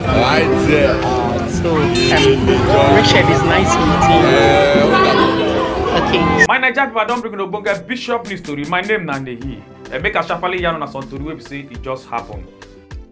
Right there. Uh, so, um, Richard is nice meeting you. Okay. My Naija people, I don bring una ogbonge bishop news tori. My name na Nehi. Uh, make I sharply yarn una some tori wey be say e just happen.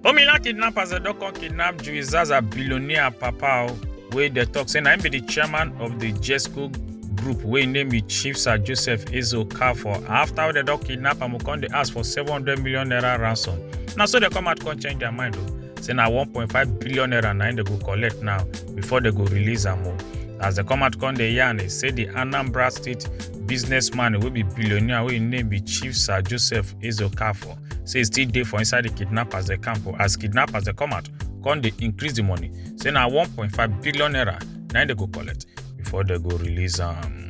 Omila kidnappers dem don come kidnap Julie Zaza billionaire papa o wey dey talk say na him be the chairman of the Jesco group wey him name be Chief Sir Joseph Ezo Okafor. After dem don kidnap am, we come dey ask for seven hundred million naira ransom. Na so dem come out come change their mind o. say na 1.5 billion naira na im dem go collect now before dem go release am o as dem come out come dey yarn e say di anambra state businessman wey be billionaire wey im name be chief sir joseph ezeokafor say e still dey for inside di kidnappers dem camp o as kidnappers dem come out come dey increase di money say na 1.5 billion naira na im dem go collect before they go release them.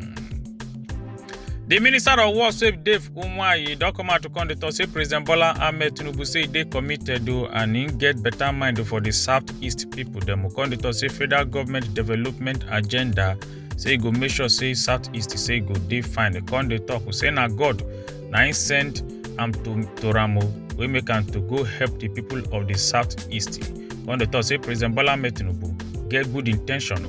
The Minister of War, Save Dave Umwayi, don come out to come dey talk say President Bola Ahmed Tinubu say e dey committed o and im get better mind for the southeast people dem. Come dey talk say federal government development agenda say e go make sure say southeast say e go dey fine. Come dey talk say na God na im send am to to am o wey make am to go help the people of the southeast. Come dey talk say President Bola Ahmed Tinubu get good in ten tion o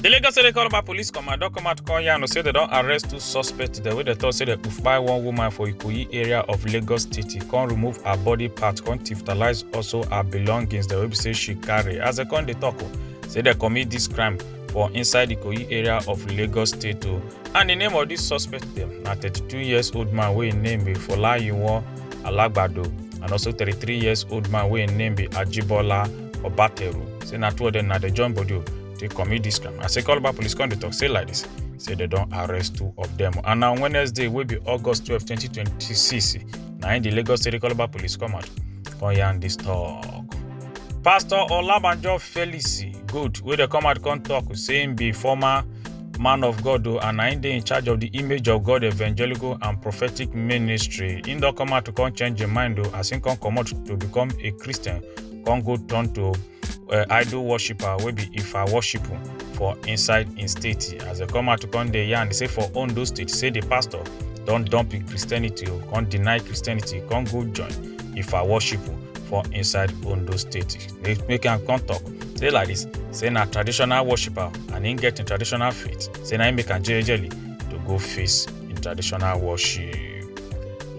The Lagos State Calabar Police Command don come out call yarn say they don arrest two suspects dem wey dem talk say dem kpai one woman for Ikoyi area of Lagos State come remove her body part come tiftalize also her belongings dem wey be say she carry as dem come dey talk o say dem commit this crime for inside Ikoyi area of Lagos State o and the name of this suspect dem na 32 years old man wey im name be Folayiwon Alagbado and also 33 years old man wey im name be Ajibola Obateru say na two of them na dey join body o dey commit dis crime as Ekoloba police come dey talk say like this say they don arrest two of them and na Wednesday wey be August twelve twenty twenty six na im the Lagos State Ekoloba police come out come yarn this talk. Pastor Olabanjo Felix Good wey dey come out come talk say im be former man of God o and na im dey in charge of the Image of God Evangelical and Prophetic Ministry. Im don come out to come change im mind o as im come comot to become a Christian come go turn to uh, idol worshipper wey be ifa worshipper for inside im state as dem come out to come dey yarn say for ondo state say di pastor don dump im christianity o come deny christianity come go join ifa worshipper for inside ondo state dey make am come talk say like dis say na traditional worshipper and im get im traditional faith say na im make am jejely to go face im traditional worship.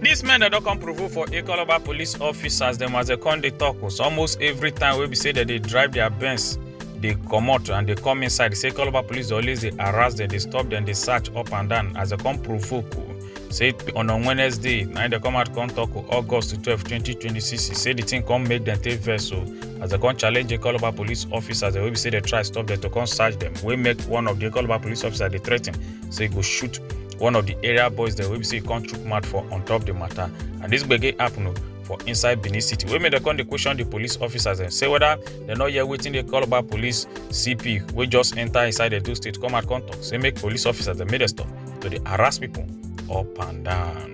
dis men dem don come provoke for ikoloba police office as dem as dem come dey tok o so almost every time wey be say dem dey drive their benz dey comot and dey come inside say ikoloba police dey always dey harass dem dey stop dem dey search up and down as dem come provoke o say on on wednesday na im dem come out come tok o august twelve twenty twenty six e say di tin come make dem take vex o as dem come challenge ikoloba police officers dem wey be say dem try stop dem to come search dem wey make one of di ikoloba police officers dey threa ten say e go shoot one of di area boys dem wey be say e come chook mouth for on top di matter and dis gbege happen o for inside benin city wey make dem come dey question di police officers dem say whether dem no hear wetin dey call about police cp wey just enter inside edo state come out come talk say make police officers dem make dem stop to dey harass people up and down.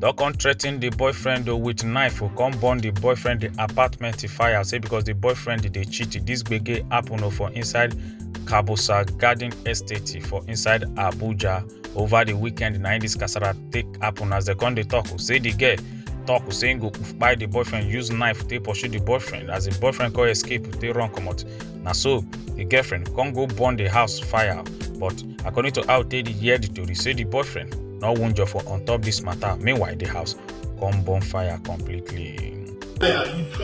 don come threaten the boyfriend o with knife o come burn the boyfriend the apartment e fire say because the boyfriend dey cheat this gbege happen o for inside kabusa garden estate for inside abuja over the weekend na im this kasala take happen as dem come dey talk o say the girl talk o say im go kpai the boyfriend use knife take pursue the boyfriend as the boyfriend come escape take run comot na so di girlfriend come go burn di house fire but according to how tey hear di tori say di boyfriend no wunjure for on top dis matter meanwhile di house come burn fire completely. Yeah.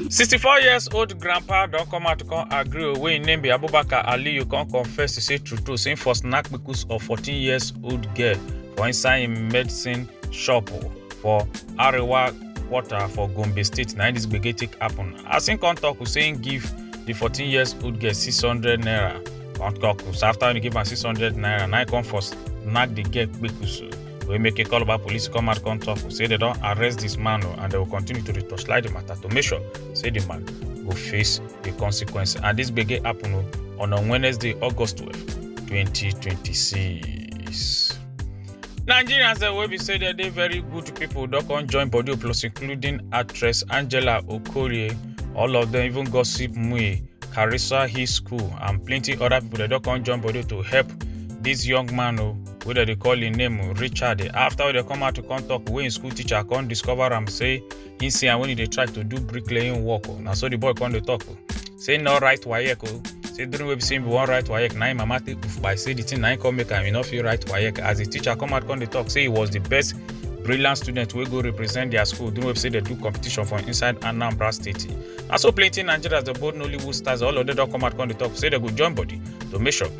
64 years old grandpa don come out to come agree o wey im name be abubakar aliyu come confess to say true true say im for snack kpekus of 14 years old girl for inside im medicine shop for arewa quarter for gombe state na im dis gbege take happen as im come talk say im give di 14 years old girl 600 naira come talk after im give am 600 naira na im come for snack di girl kpekus We make a call about police come and come talk. We say they don't arrest this man oh, and they will continue to torchlight the matter to make sure say the man will face the consequence. And this big happen oh, on a Wednesday, August 12, 2026. Nigerians that will be say that they very good people don't come join body plus including actress Angela Okorie. All of them even gossip Mui, Carissa High School and plenty other people that don't come join body to help this young man oh, wey dem dey call im name richard after wey dem come out to come talk wey im school teacher come discover am say he see am when he dey try to do bricklaying work o na so the boy come dey talk o say no write waec o say during wey be say him bin wan write waec na him mama take poof by say the thing na him come make am he no fit write waec as the teacher come out come dey talk say he was the best brilliant student wey go represent their school during wey be say dem do competition for inside anambra state na so plenty nigerians dey bold nollywood stars all of them don come out come dey talk say dem go join body to make sure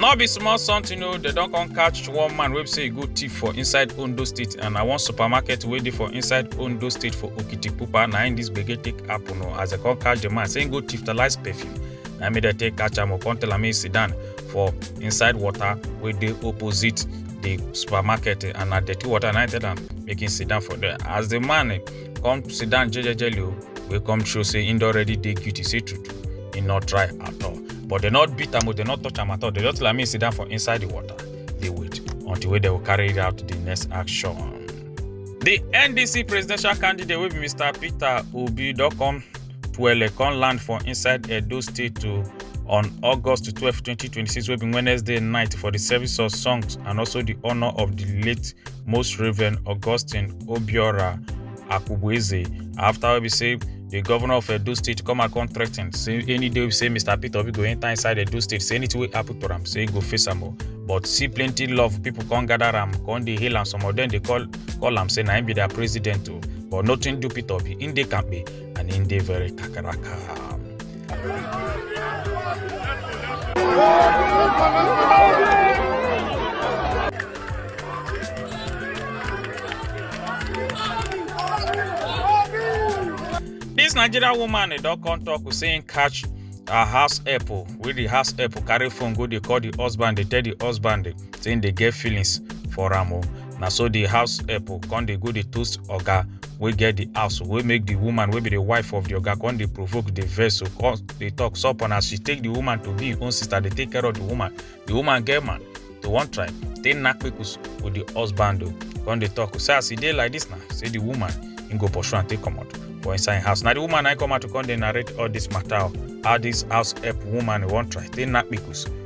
no be small something o dem don come catch one man wey be say e go thief for inside ondo state and na one supermarket wey dey for inside ondo state for okitipupa na im dis gbege take happen o as dem come catch the man say im go thiftalize perfume na im make dem take catch am o come tell am make e sit down for inside water wey dey opposite the supermarket and na dirty water na im tell am make im sit down for there as the man come sit down jejejely o wey come show say him don already dey guilty say true true he no try at all but dem no beat am o dem no touch am at all dem just like me sit down for inside the water dey wait until wey dem go carry out the next action. The NDC presidential candidate wey be Mr. Peter Obi don come Twele come land for inside Edo State to on August 12, 2026 wey be Wednesday night for the service of songs and also the honour of the late most reverend augustine obiora akubueze afta wey be say di govnor of edo state come and come threaten say any day wey be say mr peter obi go enta inside edo state say anytin wey happun to am say e go face am o but see plenty love pipo come gather am come dey hail am some of dem dey call call am say na im be dia president o but nothing do peter obi im dey kampe and im dey very kakaraka. Dis Nigerian woman e don come talk say im catch her house help o, wey di house help carry phone go dey call di husband dey tell di husband say im dey get feelings for am o. na so the house help come dey go dey toast oga wey get the house wey make the woman wey be the wife of the oga come dey provoke the vex come dey talk sup and as she take the woman to be im own sister dey take care of the woman the woman get man to one tribe take knack pikus with the husband o come dey talk say as e dey like this na say the woman im go pursue am take comot for inside im house na the woman na come out to come dey narrate all this matter o how this house help woman wan try take knack pikus